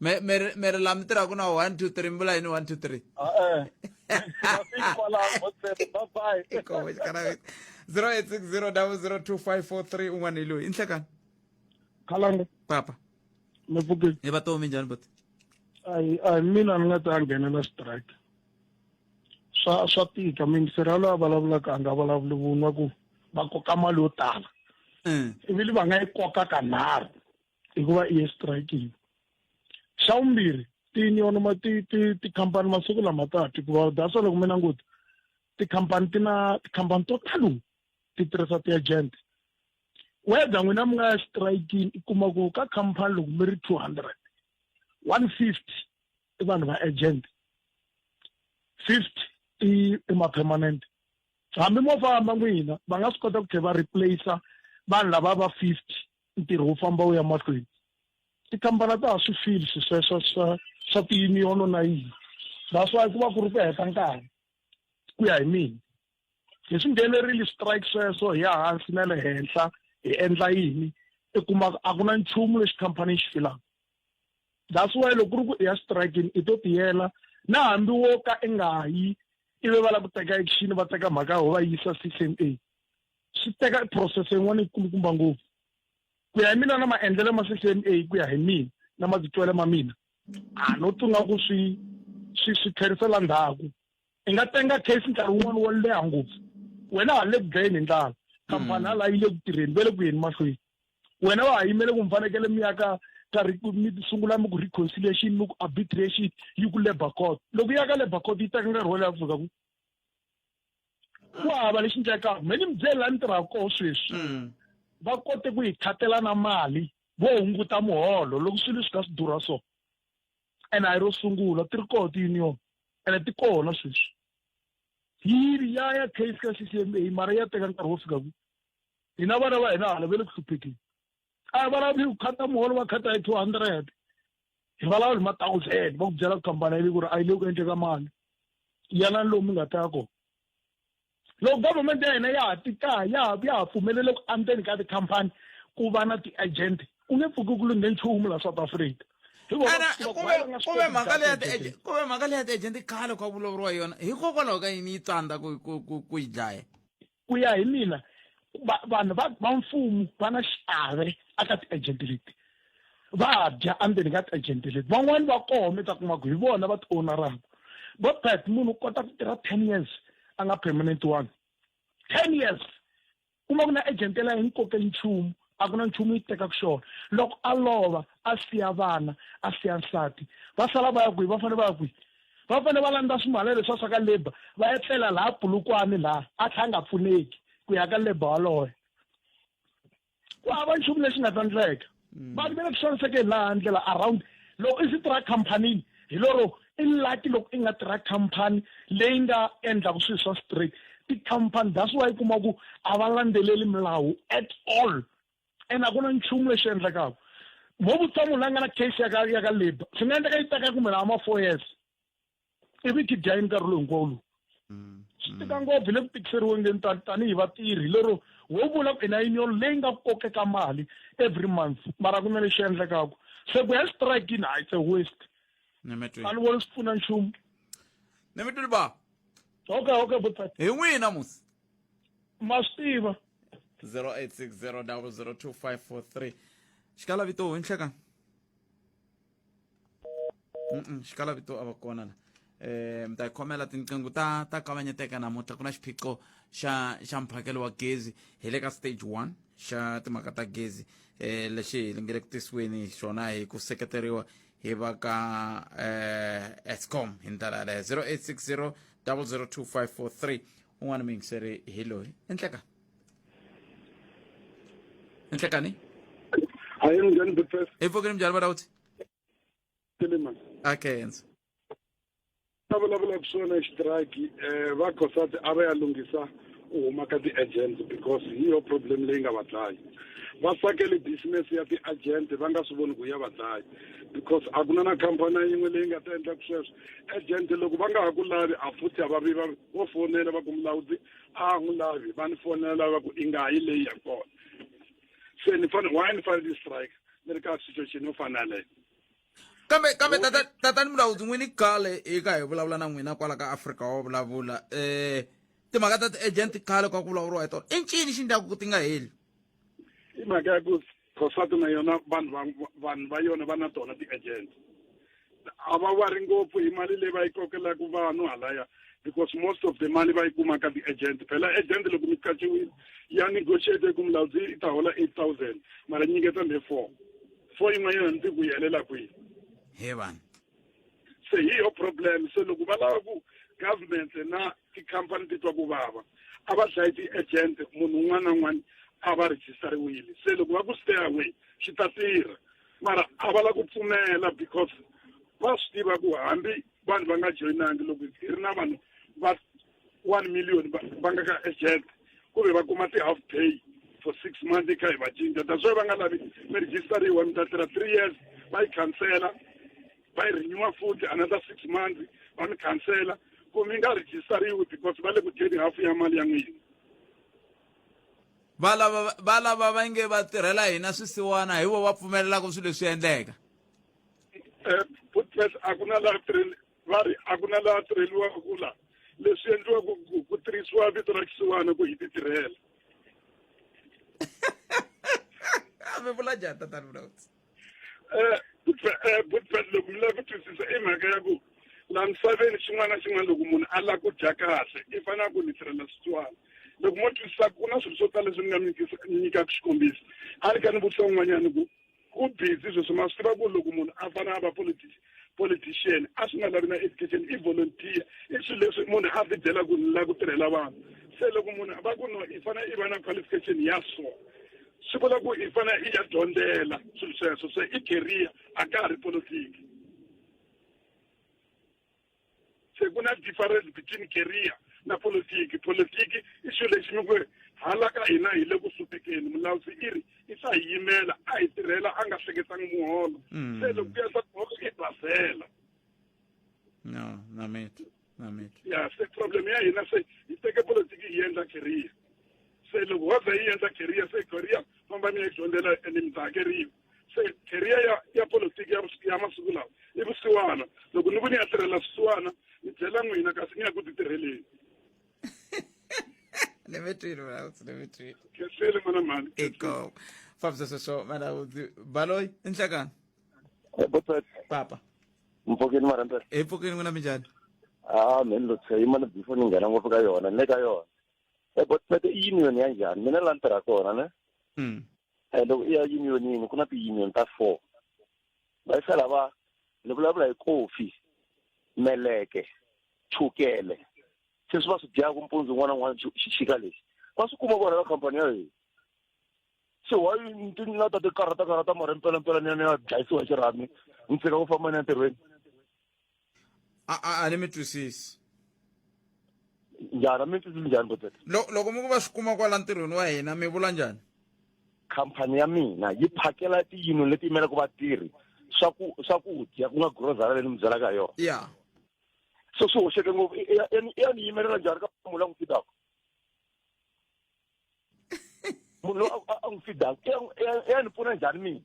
me me re- me re la mtira ku na one two three mbula yini one two three Ah, eh. Singafiki kwalaho Motsepe. Bye bye. Ikowe xikanaveti 0860002543 un'wana hi loyi i nhlekani khalanga papa mi pfukile hi va tomi njhani buti ayi ayi mina ni nga ta nghenela strike swa swa tika mingisera loyi a vulavulaka a nga vulavuli vunwa ku va koka mali yo tala Mm. ivili va nga yi koka kanharhu hikuva i exitrayikini xa vumbirhi tiunion ma ti ti tikhampani masiku lama ta ti hikuva that's loko mi languta tikhampani ti na tikhampani to talo ti tirhisa ti-agent whether n'wina mi nga ya xitrayikini i kuma ku ka khampani loko mi ri two hundred one fifty i vanhu va agent fifty i i ma-permanent hambi mo famba n'wina va nga swi kota ku tlhe va replacer vanhu lava va fifty ntirho wu famba wu ya mahlweni tikambana ta ha swi fili swi sweswo swa swa tiyuniyono na yini that's why ku va ku ri ku heta nkarhi ku ya hi mina hi swi nghenerile strike sweswo hi ya hansi na le henhla hi endla yini i kuma a ku na nchumu lexi khampani xi filaka that's why loko ku ri ku i ya strikini i to tiyela na hambi wo ka i nga yi ivi va lava ku teka action va teka mhaka yo va yisa CCMA swi teka process yin'wana yi kulukumba ngopfu ku ya hi mina na maendlelo ma ccma ku ya hi mina na matitwelo ma mina a no tunga ku swi swi swi tlherisela ndhaku i nga tenga case nkarhi wun'wana wo leha ngopfu wena ha le ku dlayeni hi ndlala khampani hala yi le ku tirheni ve le ku yeni mahlweni wena wa ha yimele ku mi fanekele mi ya ka ka mi sungula mi ku reconciliation mi ku arbitration yi ku labour court loko yi ya ka labour court yi teka nkarhi wo leha ku fika ku ku hava lexi ndlekaka me ni mi byele la ni tirhaka koho sweswi mm. va kote ku yi khatela na mali vo hunguta muholo loko swilo swi ka swi durha so ene a yi ro sungula ti ri koho ti-union ene ti kona sweswi yini ya ya case ka ccma mara ya teka nkarhi wo fika ku hina vana va hina hala ve le ku hluphekeni a hi vulavi ku khata muholo va khata hi two hundred hi vulavula hi ma thousand va ku byela kambana yili ku ri a yi le ku endleka mali yanani lomu nga ta kona loko government ya hina ya ha ti kaya ya ha ya ha pfumelele ku andzeni ka tikhampani ku va na ti-agent ku nge pfuki ku lunghe nchumu la south africa kuve mhaka leya kuve mhaka leya ti-agent khale ku a vulavuriwa yona hikokwalaho ka yini yi tsandza ku ku ku ku yi dlaya Ku ya hi mina va- vanhu va va mfumo va na xiave aka ti-agent leti va dya endzeni ka ti-agent leti van'wani va koho mi ta kuma ku hi vona va ti-ownaraka vo bet munhu u kota ku tirha ten years a nga permanent one ten years kuma ku na agent la hi nkoke nchumu a ku na nchumu yi tekaka xona loko a lova a siya vana a siya nsati va sala va ya kwihi va fanele va ya kwihi va fanele va landza swimhala leswi a swa ka labour va ya tlela laha pulukwani laha a tlha a nga pfuneki ku ya ka labour waloye ku hava nchumu lexi nga ta ndleka mm. vanhu va le ku xanisekeni laha ndlela around loko i swi tirha comphanini hi loro i lucky loko i nga tirha khampani leyi nga endlaka swilo swa straight tikhampani that's why kuma ku a va landzeleli milawu at all and a ku na nchumu lexi endlekaka mo vutisa munhu la nga na case ya ka ya ka labour swi nga endleka yi teka kumbe lawa ma-four years ivi kidya yi nkarhi lowu hinkwawo lowu mm, swi tika mm. ngopfu le ku tikiseriwengeni tanihi vatirhi lero wo vula ku ina union leyi nga kokeka mali every month mara ku na lexi endlekaku se ku ya strikini hayi it's a waste a ni voni swi pfuna nchumu ni mi twile ba okay okay butati hi n'wihi namusi ma swi tiva 0860 002 543 xikala vito hi nhlekani Mm-mm, xikala vito a va kona la eh mi ta yi khomela tinqingho ta ta kavanyeteka namuntlha ku na xiphiqo xa xa mphakelo wa gezi hi le ka stage one xa timhaka ta gezi eh lexi hi lingele ku tisiweni xona hi ku seketeriwa hi va ka eh escom hi ndlela yaleyo 0860 002543 un'wana mi yingiseri hi loyi enhlekani ninhlekani hayi njani big first emfokeni mnjani bana uthi tilima akenza a vulavula ku swona xitiraki um va cosati a va ya lunghisa u huma ka ti-agent because hi yo problem leyi nga va dlayi va sakele business ya ti-agent va nga swi voni ku ya va dlayi because a ku na na khampani yin'we leyi nga ta endlaku sweswo agent loko va nga ha ku lavi a futhi a va vi va vo fonela va ku mulawudzi a n'wi lavi va ni fonela va ku i nga yi leyi ya kona se ni fanele why ni fanele ni strike ni ri ka situation yo fana leyo kambe kambe tata tatani mulawudzi n'wini khale hi ka hi vulavula na n'wina kwala ka afrika wa vulavula um timhaka ta ti-agent khale ka ku vulavuriwa hi tona i ncini xi ndlaku ku ti nga heli i mhaka ya ku Prostate na yona vanhu va vanhu va yona va na tona ti-agent a va wari ngopfu hi mali leyi va yi kokelaka vanhu halaya because most of the mali va yi kuma ka ti-agent phela agent loko mi qachiwile ya negotiate ku mulawudzi i ta hola eight thousand mara nyiketa le four four yin'wanyana ni ti ku yi helela kwihi he vanhu se hi yo problem se loko va lava ku government na tikhampani ti twa ku vava a va dlayi ti-agent munhu un'wana na un'wana a va rejistariwile se loko va ku stay away swi ta tirha mara a va la ku pfumela because va swi tiva ku hambi vanhu va nga joyinangi loko hi ri na vanhu va one million va va nga ka agent ku ve va kuma ti-half pay for six months yi kha hi va cinca that's why va nga lavi mi registeriwa mi ta tirha three years va yi khansela va yi renewa futhi another six months va mi khansela ku mi nga registeriwi because va le ku dyeni hafu ya mali ya n'wina va lava va lava va nge va tirhela hina swisiwana hi vo va pfumelelaka swilo leswi endleka um putpes a ku na laha tirheni va ri a ku na laha tirheliwaka ku la leswi endliwaka ku tirhisiwa vito ra xisiwana ku hi ti tirhela mi vula njhani tatani vulavuti eh, eh, butbet loko mi lava ku twisisa i mhaka ya ku laha misaveni xin'wana na xin'wana loko munhu a lava ku dya kahle i fanele ku ni tirhela switswana loko mo twisisa ku na swilo swo tala leswi ni nga mi nyikaka xikombiso a ni ka ni vutisa un'wanyana ku u busy sweswi ma swi tiva ku loko munhu a fana a va politics politician a swi nga lavi na education i volunteer i swilo leswi munhu a ti byela ku la ku tirhela vanhu se loko munhu va ku no i fanele i va na qualification ya so swi vula ku i fanele i ya dyondzela swilo sweswo se i career a ka ha ri politiki se ku na difference between career na politiki politiki i xilo lexi mi ku hala ka hina hi le ku hluphekeni mulawusi i ri i sa hi yimela a hi tirhela a nga hleketangi muholo mm. se loko ku ya swa muholo i basela no namiti namiti ya se problem ya hina se hi teke politiki hi endla career se loko wo ze yi endla career se career famba mi ya dyondzela and mi ta hakeriwa se career ya ya politiki ya vusi- ya masiku lawa i vusiwana loko ni ku ni ya tirhela swisiwana ni byela n'wina kasi ni ya ku ti tirheleni ni mi twile malawudzi ni mi twile khensile mana mhani iko fambisa sweswo malawudzi baloyi i nhlekani botsati papa mpfokeni marantela hi pfukini n'wina minjhani a mheni lo tshe yimana before ni nghena ngopfu ka yona ni le ka yona e botsati i yini yona ya njhani mina la ni tirha kona ne Mm. and loko i ya unionini ku na ti-union ta four va yi fela va ni vulavula hi kofi meleke chukele se swi va swi dyaka mpundzu un'wana un'wana xixika lexi va swi kuma vona ka khampani ya hina se wa ti nga ta ti karhata karhata mara mpelampela ni ya ni ya dlayisiwa xirhami ni tshika ku famba ni ya ntirhweni a a a ni mi twisisi njhani a mi ni twisisi njhani botete Lo- loko mi ku va swi kuma kwala ntirhweni wa hina mi vula njhani khampani ya mina yi phakela tiyino leti yimelaka vatirhi swaku swakudya ku nga grocery leyi ni mi byelaka ha yona ya so swi hoxeke ngopfu i- i- ya ni- ya ni yimelela njhani ka mula ku fitaka munhu loyi a- a- a n'wi fidaka i ya n'wi- i ya- i ya ni pfuna njhani mina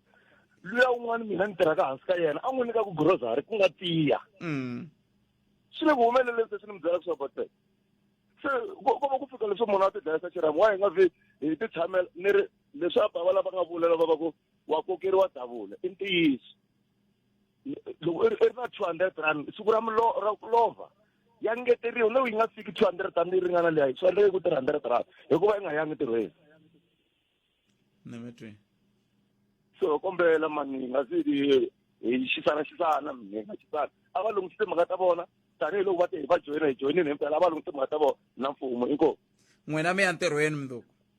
luya un'wana mina ni tirhaka hansi ka yena a n'wi nyika ku grocery ku nga tiya Mm. swi le ku humeleleni se swi ni mi byela leswaku bate se ko ko va ku fika leswi munhu a ti dlayisa xirhami wa hi nga vi hi ti tshamela ni ri leswi a bava lava nga vula lava va ku wa kokeriwa davula i ntiyiso loko i ri na 200 rand siku ra mulo ra ku lova ya ngeteriwa loko yi nga fiki 200 rand yi ringana leyi yi faneleke ku 300 rand hikuva yi nga yangi ntirhweni ni mi twi so kombela mani hi nga si hi xisana xisana mi hi nga xisana a va lunghise timhaka ta vona tanihiloko va te hi va joyina hi joyinile himpela a va lunghise timhaka ta vona na mfumo inkomu n'wina mi ya ntirhweni mundzuku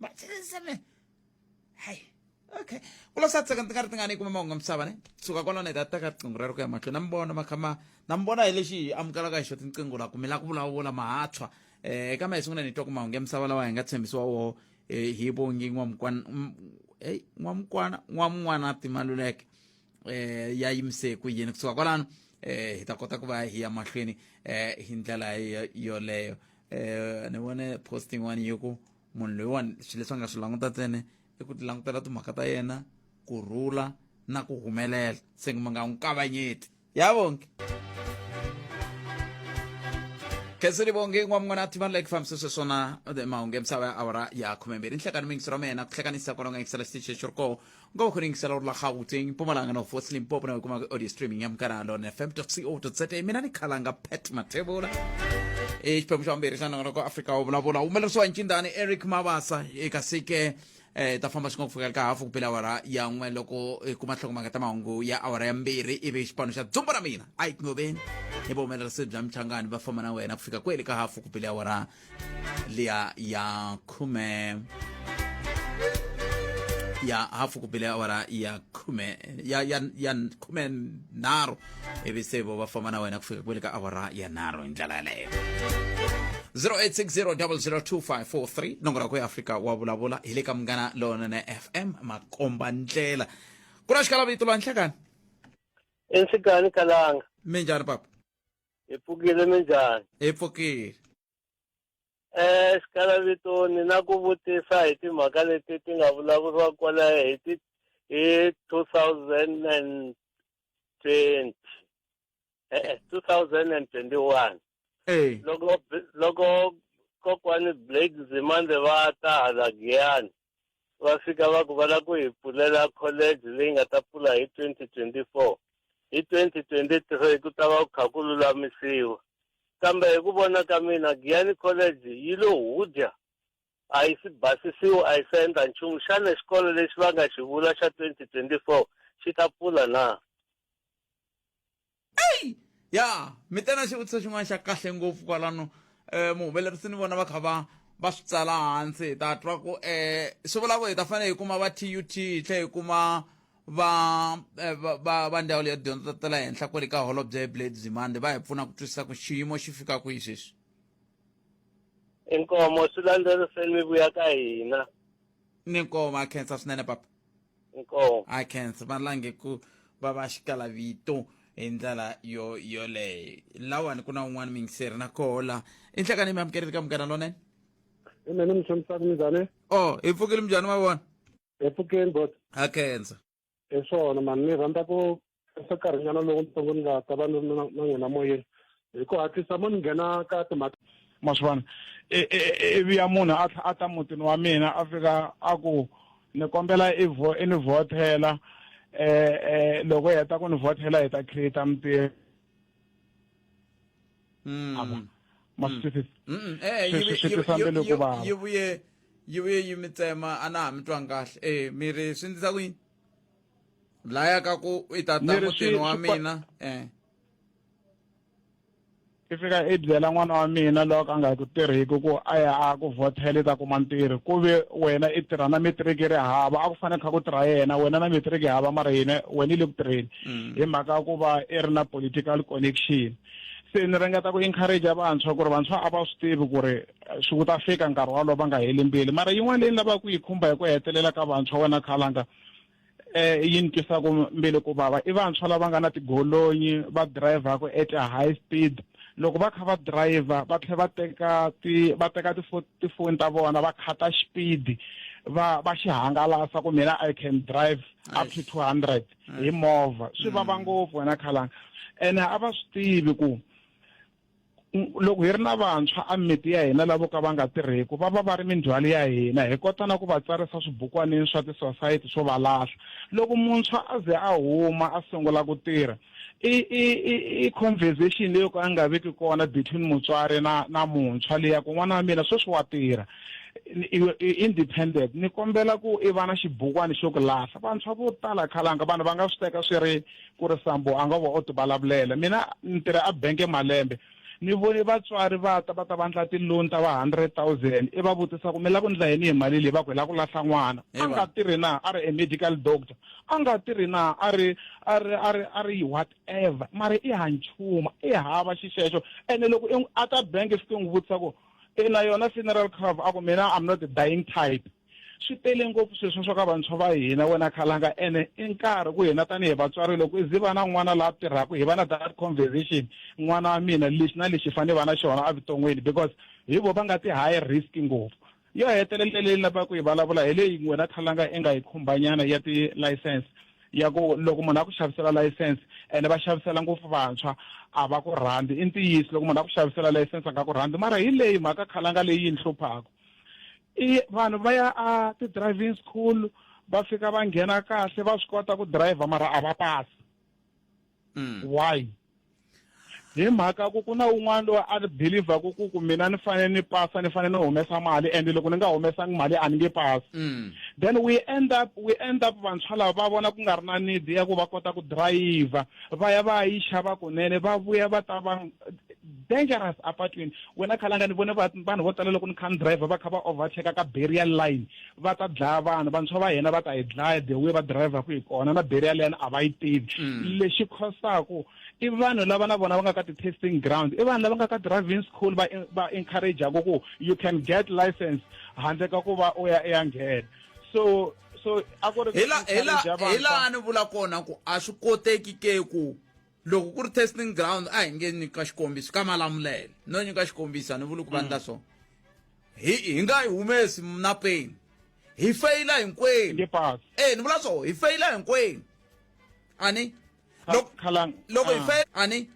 matseseme hayi okay kulosatseka ndzi nga ri ti nga ni kuma mahungu misava ne suka kwalano hi ta teka riqingho rero ku ya mahlweni na mi vona makhama na mi vona hi lexi hi amukelaka hi xo tinqingho la kumela ku vulavula mahatshwa um eka ma hi sungula ni twa ku mahungu ya misava lawa hi nga tshembisiwa woho eh, hi vongi n'wamukwana eyi n'wamukwana n'wamun'wana timaluleke um eh, ya yimise ku yini kusuka kwalano um hi ta kota ku va hi ya mahlweni um hi ndlela yoleyo eh ni vone post yin'wana yi ku munhu loyiwani swilo leswi a nga swi languta ntsene i ku ti langutela timhaka ta yena ku rhula na ku humelela se mi nga n'wi kavanyeti ya vonke khensini vonge n'wamn'wana ti vanhu like fambisa sweswona mahungu ya misava ya awara ya khumembirhi nhlekani mingiso ra mina ku hlekanisa kwalonga yingisela xitichi xi ri koho ngoba khona ingisela uri la gauteng mpumalanga north west limpopo nawe kuma audio streaming ya mukana lona fm co za mina ni khalanga pat mathebula e xiphemu xa vumbirhi xa nongonoko wa afrika wo vulavula humelerisiwa hi ncindani eric mabasa e kasi ke eh ta famba xin'we ku fika ka hafu ku pela awara ya n'we loko hi kuma nhlokomhaka ta mahungu ya awara ya mbirhi ivi xipano xa dzumba ra mina a yi tingoveni hi vuhumelerisi bya michangani va famba na wena ku fika kwele ka hafu ku pela awara liya ya khume ya hafu ku bile awara ya khume ya ya ya khume nharhu ivi se vo va famba na wena ku fika kwele ka awara ya nharhu hi ndlela yaleyo 0860002543 nongora ku ya afrika wa vulavula hi le ka munghana lonene fm makomba ndlela ku na xikalavito lwa nhlekani ensikani kalanga minjhani papa hi pfukile minjhani hi pfukile exikalavitoni eh, na ku vutisa hi timhaka leti ti nga vulavuriwa kwala hi ti hi 2020 e-e 2021 e. loko loko kokwani blake zimande va ta hala giyani va fika va ku va lava ku hi pfulela college leyi nga ta pfula hi twenty twenty four hi twenty twenty three ku ta va ku kha ku lulamisiwa kambe hi ku vona ka mina giyani college yi lo hudya a yi si basisiwa a yi se endla nchumu xana xikolo lexi va nga xi vula xa twenty twenty four xi ta pfula na eyi ya mi te na xivutiso xin'wana xa kahle ngopfu kwalano um eh, muhumelerisi ni vona va kha va va swi tsala hansi hi ta twa ku um swi vula ku hi ta fanele hi kuma va tut hi tlhe hi kuma va eh, va va ndzawulo ya dyondzo ta le henhla kwale ka holobye hi blade zimande va hi pfuna ku twisisa ku xiyimo xi fika kwihi sweswi inkomo swi landzeriseni mi vuya ka hina ni nkoho va khensa swinene papa nkoho a khensa va lange ku va va xikala vito hi ndlela yo yoleyo lawani ku na un'wana mingiseri na koho la i nhlekani mi amukerile ka munghana lonene mina ni mi xanisaka minjhani o hi pfukile minjhani ma vona hi pfukeni bot a khensa hi swona mani ni rhandza ku tirhisa nkarhinyana lowutsongo ni nga ta va ni ri na n'wina moyeni hi ku hatlisa mo ni nghena ka timhaka ma swi vona ivi ya munhu a a ta mutini wa mina a fika a ku ni kombela i vo i ni vhothela um loko hi heta ku ni vhothela hi ta create mintirho Mm. a vona ma swi twisisa Mm-mm. Eh, Swi- yi- swi- swi yi- tisa yi- mbilu yi- ku vava. yi vuye yi vuye yi mi tsema a na ha mi twanga kahle e mi ri swi ndlisa ku yini laya ka ku i ta ta Ni ri mutini swi- wa swi pa- mina eh i fika i byela n'wana wa mina loyi a nga ku tirhiki ku a ya a ku vhothela i ta kuma ntirho ku ve wena i tirha na metiriki ri hava a ku fanele kha ku tirha yena wena na metiriki hava mara yena wena i le ku tirheni Mm. hi mhaka ya ku va i ri na political connection se ni ringeta ku encourage vantshwa ku ri vantshwa a va swi tivi ku ri eh, swi ku ta fika nkarhi walowo va nga heli mbili mara yin'wana leyi ni lavaka ku yi khumba hi ku hetelela ka vantshwa wena khalanga eh yi ni twisaka mbele ku vava i vantshwa lava nga na tigolonyi va dirayivhaka at a high speed loko va kha va dirayivha va tlhela va teka ti va teka tifoni ta vona va khata xipidi va va xi hangalasa ku mina i can drive up to two hundred hi movha swi vava mm. ngopfu wena khalanga ene a va swi tivi ku loko hi ri na vantshwa a mimiti ya hina lavo ka va nga tirheki va va va ri mindzhwalo ya hina hi kota na ku va tsarisa swibukwanini swa tisosayiti swo va lahla loko muntshwa a ze a huma a sungula ku tirha i i i conversation leyo ka a nga veki kona between mutswari na na muntshwa leya ku n'wana wa mina sweswi wa tirha independent ni kombela ku i va na xibukwani xo ku lahla vantshwa vo tala khalanga vanhu va nga swi teka swi ri ku ri sambo a nga va o tivulavulela mina ni tirha a benke malembe ni vone vatswari va ta va ta va ndla ti-loan ta va hundred thousand i va vutisa ku mi lava ku ndla yini hi mali leyi va ku hi lava ku lahla n'wana a nga tirhi na a ri a medical doctor a nga tirhi na a ri a ri a ri a ri whatever mara i ha nchumu i hava xixexo ene loko a ta bank swi ti n'wi vutisa ku Ina yona funeral cover a ku mina I'm not the dying type swi tele ngopfu sweswo swa ka vantshwa va hina wena khalanga ene i nkarhi ku hina tanihi vatswari loko i ziva na n'wana laha tirhaka hi va na that conversation n'wana wa mina lexi na lexi fanele va na xona evuton'wini because hi vo va nga ti high risk ngopfu yo hetelela leyi lavaka ku yi vulavula hi leyi wena khalanga i nga yi khumbanyana ya ti-license ya ku loko munhu a ku xavisela layisense ene va xavisela ngopfu vantshwa a va ku rhandzi i ntiyiso loko munhu a ku xavisela layisense a nga ku rhandzi mara hi leyi mhaka khalanga leyi yi ni hluphaka i vanhu va ya a ti-driving school va fika va nghena kahle va swi kota ku driver mara a va pasi Mm. why hi mhaka ku ku na un'wana loyi a ni believer ku ku ku mina ni fanele ni pasa ni fanele ni humesa mali and loko ni nga humesangi mali a ni nge pasi Mm. then we end up we end up vantshwa lava va vona ku nga ri na need ya ku va kota ku driver va ya va ya yi xava kunene va vuya va ta va dangerous apatwini wena khalanga ni vone vanhu vo tala loko ni kha ni driver va kha va overtake ka barrier line va ta dlaya vanhu vantshwa va hina va ta hi dlaya the way va driverku hi kona na barrier line a va yi tivi mm. lexi khosaku i vanhu lava na vona va nga ka ti-testing ground i vanhu lava nga ka driving school va va encourageaku ku you can get license handle ka ku va u ya ya nghena so so a ku ri hi laha ni vula kona ku a swi koteki ke ku loko ku ri testing ground a hi nge nyika xikombiso ka malamulele no nyika xikombiso a ni vuli ku va ndla mm. so hi hi nga yi humesi na peni hi feyila hinkwenu e ni vula so hi feyila hinkwenu ani loko hi feyila ani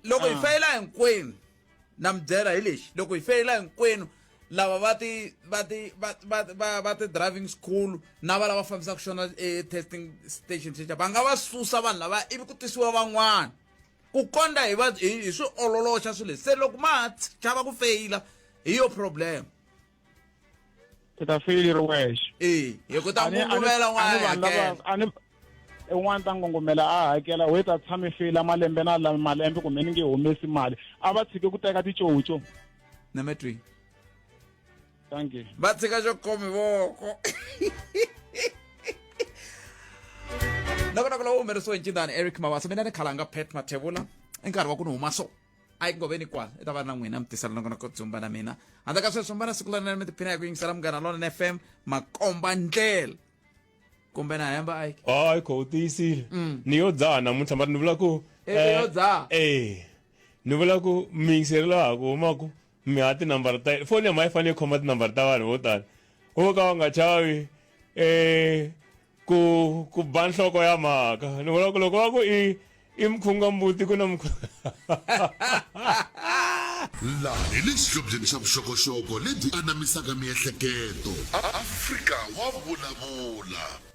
loko hi ah. feyila hinkwenu na mi byela hi lexi loko hi feyila hinkwenu lava va ti va ti va va va va ti driving school na va lava fambisaka xona e-testing station xexa va nga va susa vanhu lava ivi ku tisiwa van'wana ku kondla hi va hi swi ololoxa swilo leswi se loko ma ha chava ku feyila hi yo problem i ta feel i ri wexe ee hi ku ta ngungumela n'wana hakela un'wana ta ngongomela a hakela whe ta tshame feyila malembe na lami malembe kumbe ni nge humesi mali a va tshike ku teka ticoco na me twi thank you va tshika xo khomi voko loko na ku lowu humerisiwe hi ncindani eric mavasa mina ni khalanga pet mathevula i nkarhi wa ku ni huma so a yi ngoveni kwala i ta va na n'wina mi tisela nakona ko dzumba na mina handle ka sweswo mbana siku lanene mi tiphina hi ku yingisela munghana lona na fm makomba ndlela kumbe na hemba a yike hayi kho u tiyisile mm. ni yo dzaha namuntlha mara ni vula ku e, e yo eh, dzaha e ni vula ku mi yingiseri laha ku humaku mi ha tinambara ta foni ya ma yi fanele yi khoma tinambara ta vanhu vo tala wo ka va nga chavi um ku ku ba nhloko ya mhaka ni vona ku loko va ku i i mkhunga mbuti ku na laha hi le xihlobyeni xa vuxokoxoko lebyi anamisaka miehleketo afrika wa vulavula